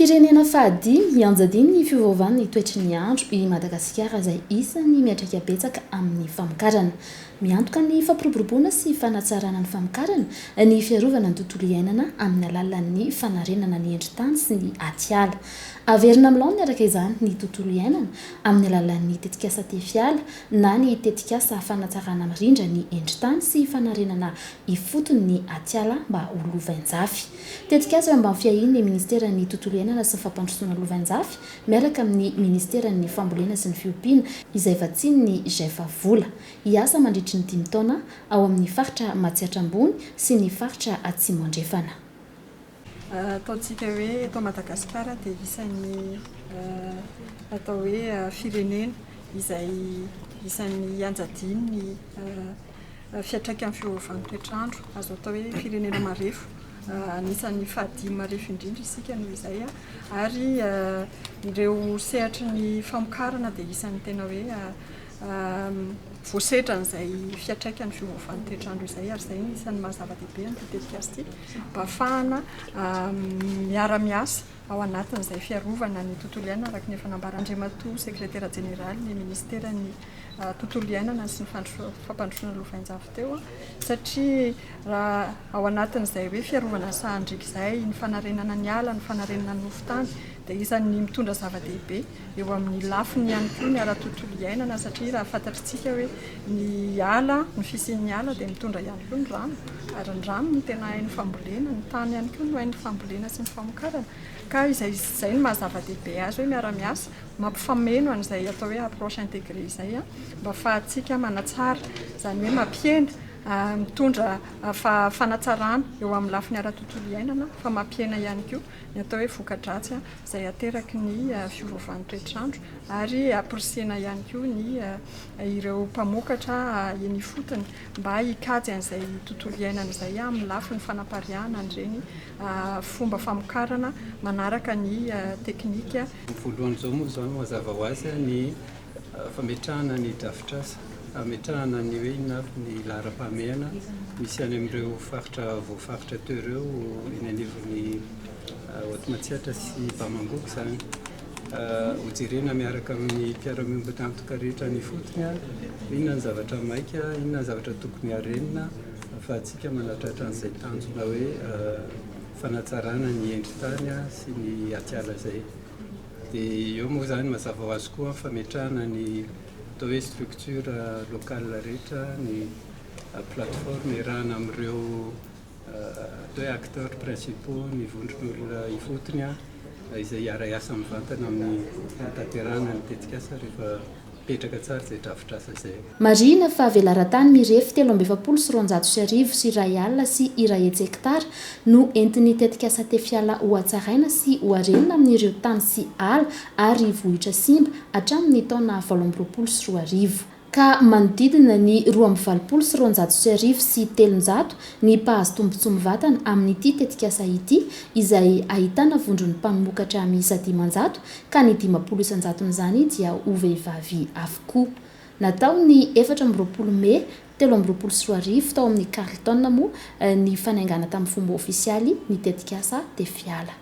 Firenena fahadimy hianjadian' ny fiovaovan' ny toetry ny andro i Madagasikara izay isan' ny miantraika betsaka amin' ny famokarana. Miantoka ny fampiroboroboana sy fanatsarana ny famokarana ny fiarovana ny tontolo iainana amin' ny alalan' ny fanarenana ny endri-tany sy ny atiala. Averina amin'ny laoniny araka izany ny tontolo iainana amin'ny alalan'ny tetikasa Tefiala na ny tetikasa fanatsarana mirindra ny endri-tany sy fanarenana ifotony ny atiala mba ho lovainjafy. Tetikasa eo ambany fiahian'ny minisiteran'ny Tontolo iainana sy ny fampandrosoana lovainjafy miaraka amin'ny minisiteran'ny Fambolena sy ny fiompiana izay vatsian'ny Gefa vola hiasa mandritry ny dimy taona ao amin'ny faritra Matsiatra Ambony sy ny faritra Atsimo Andrefana. Ataontsika hoe eto Madagasikara dia isan'ny atao hoe firenena izay isan'ny ianjadiany ny fiantraikan'ny fiovaovan'ny toetr'andro. Azo atao hoe firenena marefo, anisan'ny fahadimy marefo indrindra isika noho izay. Ary ireo sehatry ny famokarana dia isan'ny tena hoe voasedra an'izay fiantraikan'ny fiovaovan'ny toetr'andro izay ary izay isan'ny maha zava-dehibe an'ity tetikasa ity mba hahafahana miara-miasa ao anatin'izay fiarovana ny tontolo iainana araka ny efa nambaran'Andriamatoa sekretera jeneraly ny ministeran'ny tontolo iainana sy ny fampandrosoana lovainjafy teo satria raha ao anatin'izay hoe fiarovana ny sahan-driaka izay ny fanarenana ny ala ny fanarenana ny nofon-tany dia isan'ny mitondra zava-dehibe eo amin'ny lafiny ihany koa ny ara-tontolo iainana satria raha fantatritsika hoe ny ala, ny fisian'ny ala dia mitondra ihany koa ny rano ary ny rano no tena hain'ny fambolena, ny tany ihany koa no hain'ny fambolena sy ny famokarana ka izay izay no maha zava-dehibe azy hoe miara-miasa mampifameno an'izay atao hoe approche intégrée izay mba ahafahantsika manatsara izany hoe mampihena mitondra fanatsarana eo amin'ny lafiny ara-tontolo iainana fa mampihena ihany koa ny atao hoe voka-dratsy izay ateraky ny fiovovan'ny toetr'andro ary amporisihina ihany koa ny ireo mpamokatra eny ifotony mba hikajy an'izay tontolo iainana izay amin'ny lafiny fanapariahana an'ireny fomba famokarana manaraka ny teknika voalohany izao moa izany mazava ho azy ny fametrahana ny drafitrasa hametrahana ny hoe inona avy ny laharam-pahamehana misy any amin'ireo faritra voafaritra teo ireo eny anivon'ny Haute Matsiatra sy Bamangoko izany. Hojerena miaraka amin'ny mpiara-miombon'antoka rehetra any ifotony inona ny zavatra maika, inona ny zavatra tokony harenina ahafahantsika manatratra an'izay tanjona hoe fanatsarana ny endri-tany sy ny atiala izay. Dia eo moa izany mazava ho azy koa ny fametrahana ny atao hoe structure locale rehetra, ny plateforme iarahana amin'ireo atao hoe acteurs principaux, ny vondron'olona ifotony izay hiara-hiasa mivantana amin'ny fanatanterahana ny tetikasa rehefa. Mipetraka tsara izay drafitrasa izay. Marihina fa velaran-tany mirefy telo amby efapolo sy roanjato sy arivo sy iray alina sy iray hetsy hekitara no entin'ny tetikasa Tefiala hohatsaraina sy hoharenina amin'ireo tany sy ala ary vohitra simba hatramin'ny taona valo amby roapolo sy roa arivo, ka manodidina ny roa amby valopolo sy roanjato sy arivo sy telonjato ny mpahazo tombontsoa mivatana amin'ity tetikasa ity, izay ahitana vondron'ny mpanomokatra miisa dimanjato ka ny dimampolo isan-jaton'izany dia ho vehivavy avokoa. Natao ny efatra amby roapolo mey telo amby roapolo sy roa arivo tao amin'ny Carlton moa ny fanaingana tamin'ny fomba ofisialy ny tetikasa Tefiala.